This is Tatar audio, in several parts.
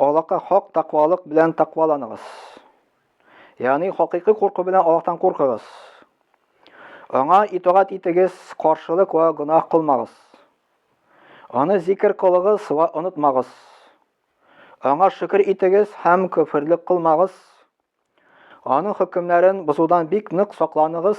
Аллаһка хак таквалык белән такваланыгыз. Ягъни хакыйкый курку белән Аллаһтан куркыгыз. Аңа итагать итегез, каршылык ва гөнаһ кылмагыз. Аны зикер кылыгыз ва онытмагыз. Аңа шөкер итегез һәм көферлек кылмагыз. Аның хөкемнәрен бозудан бик нык сакланыгыз.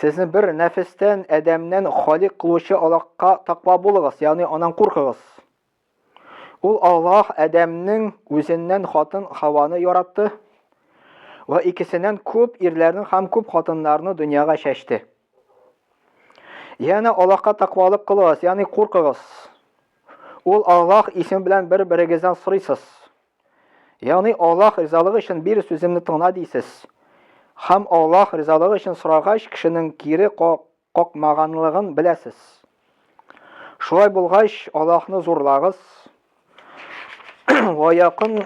Сезне бер нәфестән, әдәмнән халик кылучы Аллаһка таква булыгыз, ягъни анан куркыгыз. Ул Аллаһ әдәмнең үзеннән хатын Хаваны яратты ва икесеннән күп ирләрне һәм күп хатыннарны дөньяга чәчте. Янә Аллаһка таквалык кылыгыз, ягъни куркыгыз. Ул Аллаһ исеме белән бер-берегездән сорыйсыз. Ягъни Аллаһ ризалыгы өчен бир сүземне тыңла дисез. Һәм Аллаһ ризалыгы өчен сорагач, кешенең кире какмаганлыгын беләсез. Шулай булгач, Аллаһны зурлагыз. Ва якын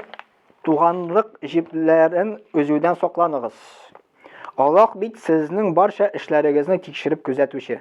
туганлык җипләрен өзүдән сакланыгыз. Аллаһ бит сезнең барча эшләрегезне тикшереп күзәтүче.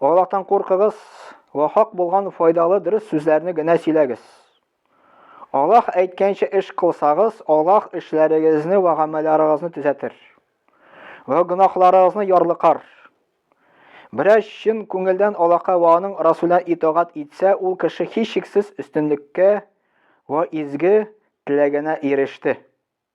Аллаһтан куркыгыз ва хак булган файдалы дөрес сүзләрне генә сөйләгез. Аллаһ әйткәнчә эш кылсагыз, Аллаһ эшләрегезне ва гамәлләрегезне төзәтер. Ва гөнаһларыгызны ярлыкар. Берәр чын күңелдән Аллаһка ва аның Расулына итагать итсә, ул кеше һичшиксез өстенлеккә ва изге теләгенә иреште.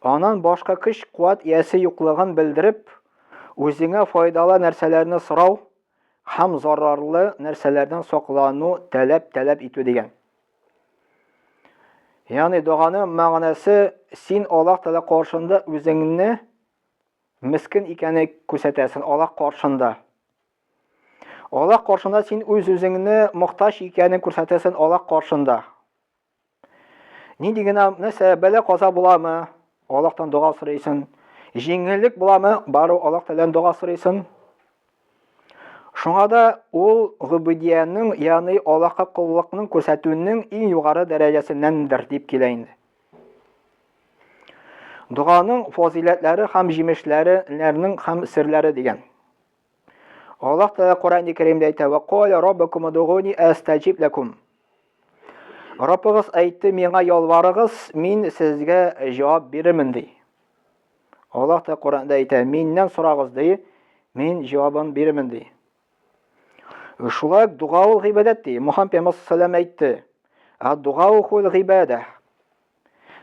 Аннан башка көч-куәт иясе юклыгын белдереп, үзеңә файдалы нәрсәләрне сорау һәм зарарлы нәрсәләрдән саклану таләп таләп итү дигән. Ягъни доганың мәгънәсе син Аллаһ Тәгалә каршында үзеңне мискен икәнне күрсәтәсен Аллаһ каршында. Аллаһ каршында син үз-үзеңне мохтаҗ икәнен күрсәтәсен Аллаһ каршында. Нинди генә нәрсә бәлә каза буламы? Аллаһтан дога сорыйсың. Җиңеллек буламы? Бару Аллаһ Тәгаләдән дога сорыйсың. Шуңа да ул губудиянең, ягъни Аллаһка куллыкның күрсәтүнең иң югары дәрәҗәсеннәндер дип килә инде. Дуганың фазиләтләре һәм җимешләренең һәм серләре дигән. Аллаһ Тәгалә Коръән-и Кәримдә әйтә: "Ва каля раббакум удугуни астаҗиб лакум". Раббыгыз әйтте, миңа ялварыгыз, мин сезгә җавап бирермен ди. Аллаһ та Коръәндә әйтә, миннән сорагыз ди, мин җавабын бирермен ди. Шулай ук дуга ул гыйбадәт ди. Мухаммед пәйгамбәр саллаллаху әйтте. Ад-дуга ул гыйбадә.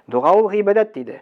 Дуга ул гыйбадәт диде.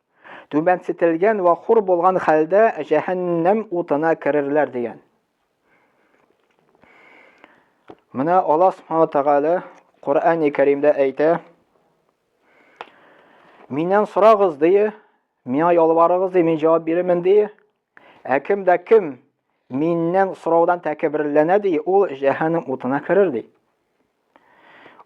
түбәнсетелгән вә хур булган хәлдә җәһәннәм утына керерләр дигән. Менә Аллаһ Субхану Тәгалә Коръәни Кәримдә әйтә: Миннән сорагыз, дие, миңа ялварыгыз, дие, мин җавап бирермен, дие. Ә кем дә кем миннән сораудан тәкәбберләнә ди, ул җәһәннәм утына керер ди.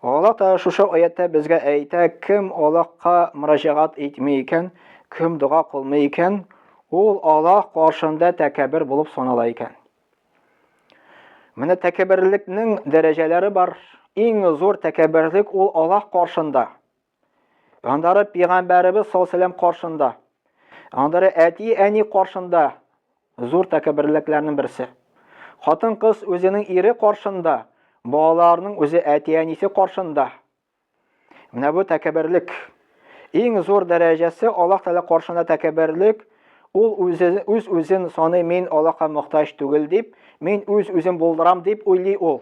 Аллаһ та шушы аяттә безгә әйтә, кем Аллаһка мөрәҗәгать итми икән, кем дога кылмый икән, ул Аллаһ каршында тәкәббер булып санала икән. Менә тәкәбберлекнең дәрәҗәләре бар. Иң зур тәкәбберлек ул Аллаһ каршында. Аннары пигамбәребез саллаллаһу каршында, аннары әти-әни каршында зур тәкәбберләкләрнең берсе. Хатын-кыз үзенең ире каршында, балаларның үзе әти-әнисе каршында. Менә бу тәкәбберлек. Иң зур дәрәҗәсе Аллаһ Тәгалә каршында тәкәбберлек, ул үзе үз үзен саны мин Аллаһка мохтаҗ түгел дип, мин үз үзем булдырам дип уйлый ул.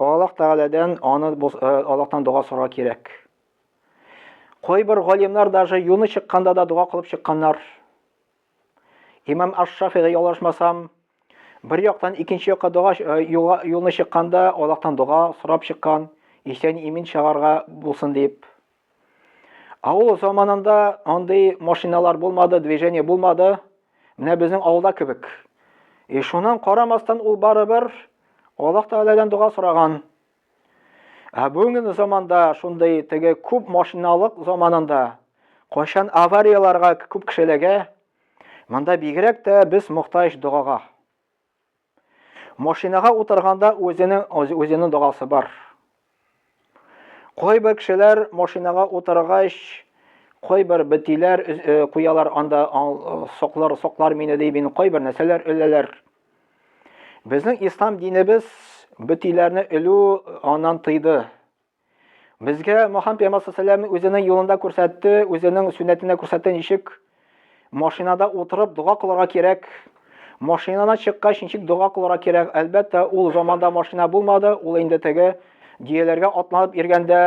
Аллаһ Тәгаләдән аны э, Аллаһтан дога сорарга кирәк. Кайбер галимнар даже юны чыкканда да дога кылып чыкканнар. Имам Аш-Шафига ялгышмасам, бер яктан икенче якка дога э, юлны чыкканда Аллаһтан дога сорап чыккан, исән имин чыгарга булсын дип. Авыл заманында андый машиналар булмады, движение булмады. Менә безнең авылда кебек. И шуннан карамастан ул барыбер Аллаһ Тәгаләдән дога сораган. Ә бүгенге заманда шундый теге күп машиналык заманында кайчан аварияларга күп кешеләгә монда бигрәк тә без мохтаҗ догага. Машинага утырганда үзенең үзенең догасы бар. Кайбер кешеләр машинага утыргач, кайбер бетиләр э, куялар анда соклар соклар мине ди, мин кайбер нәрсәләр өләләр. Безнең ислам динебез бетиләрне өлү аннан тыйды. Безгә Мохаммед пәйгамбәр саллаллаху үзенең юлында күрсәтте, үзенең сүннәтенә күрсәтте ничек машинада утырып дога кылырга кирәк. Машинадан чыккач ничек дога кылырга кирәк? Әлбәттә, ул заманда машина булмады, ул инде теге диеләргә атланып иргәндә,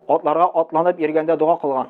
атларга атланып иргәндә дога кылган.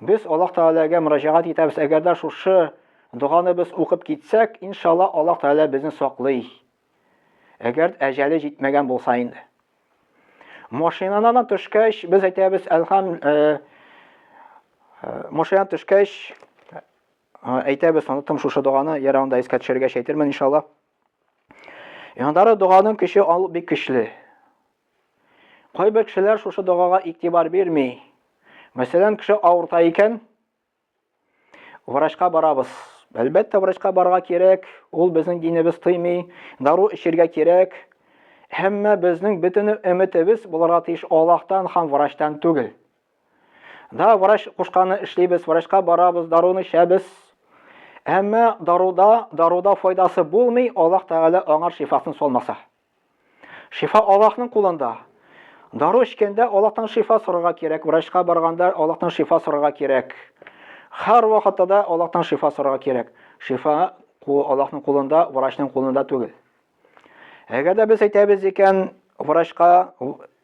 Без Аллаһ Тәгаләгә мөрәҗәгать итәбез, әгәр дә шушы доганы без укып китсәк, иншалла Аллаһ Тәгалә безне саклый. Әгәр әҗәле җитмәгән булса инде. Машинадан төшкәч, без әйтәбез, әлхам, э, э, машинадан төшкәч, әйтәбез, оныттым шушы доганы, яра анда искә төшергәч әйтермен, иншалла. Яндары доганың көче ал бик көчле. Кайбер кешеләр шушы догага игътибар бирми. Мәсәлән, кеше авырта икән, врачка барабыз. Әлбәттә, врачка барга кирәк, ул безнең динебез тыймый, дару эчергә кирәк. Әмма безнең бөтен өметебез булырга тиеш Аллаһтан һәм врачтан түгел. Да, врач кушканны эшлибез, врачка барабыз, даруны эчәбез. Әмма даруда, даруда файдасы булмый, Аллаһ Тәгалә аңар шифасын салмаса. Шифа Аллаһның кулында. Дару эчкәндә Аллаһтан шифа сорарга кирәк, врачка барганда Аллаһтан шифа сорарга кирәк. Һәр вакытта да Аллаһтан шифа сорарга кирәк. Шифа Аллаһның кулында, врачның кулында түгел. Әгәр дә без әйтәбез икән, врачка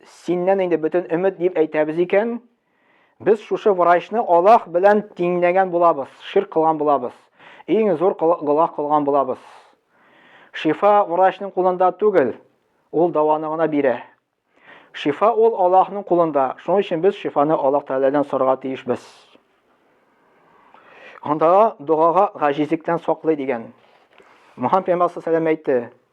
синнән инде бөтен өмет дип әйтәбез икән, Без шушы врачны Аллаһ белән тиңләгән булабыз, ширк кылган булабыз, иң зур гылах кылган булабыз. Шифа врачның кулында түгел, ул даваны гына бирә. Шифа ул Аллаһның кулында, шуның өчен без шифаны Аллаһ Тәгаләдән сорарга тиешбез. Анда догага гаҗизлектән саклый дигән. Мөхәммәд пәйгамбәр әйтте,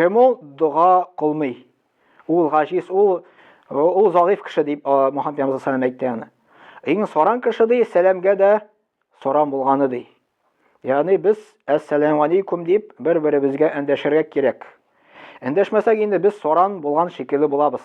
Кем ул дога кылмый? Ул гаҗиз, ул ул загыйф кеше дип Мөхәммәд пәйгамбәр саллаллаһу әйтте аны. Иң соран кеше ди, сәламгә дә соран булганы ди. Ягъни без әссәламу алейкум дип бер-беребезгә әндәшергә кирәк. Әндәшмәсәк инде без соран булган шикелле булабыз.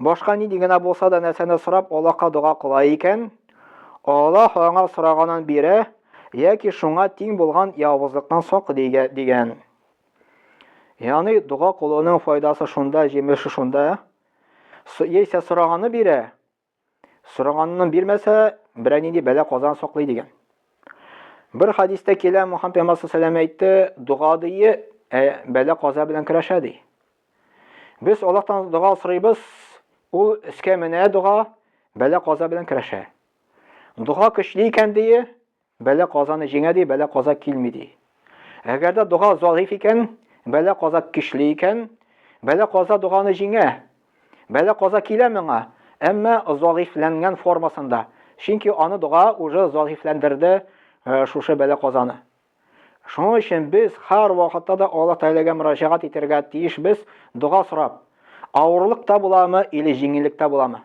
Башка нинди генә булса да нәрсәне сорап Аллаһка дога кыла икән, Аллаһ аңа сораганын бирә яки шуңа тиң булган явызлыктан саклый дигән. Яни дога кылуның файдасы шунда, җимеше шунда, яисә сораганы бирә, Сораганны бирмәсә, берәр нинди бәла казан саклый дигән. Бер хадистә килә, Мухаммад пәйгамбәр саллаллаху әйтте, дога дие, ә бәла каза белән көрәшә ди. Без Аллаһтан дога сорыйбыз, ул өскә менә дога, бәла каза белән көрәшә. Дога көчле икән дие, Бәла казаны җиңә ди, бәла каза килми ди. Әгәр дә дога залиф икән, бәла каза көчле икән, бәла каза доганы җиңә. Бәла каза килә моңа, әмма залифләнгән формасында. Чөнки аны дога уже залифләндерде э, шушы бәла казаны. Шуның өчен без һәр вакытта да Аллаһ Тәгаләгә мөрәҗәгать итәргә тиешбез, дога сорап. Авырлык та буламы или җиңеллек тә буламы?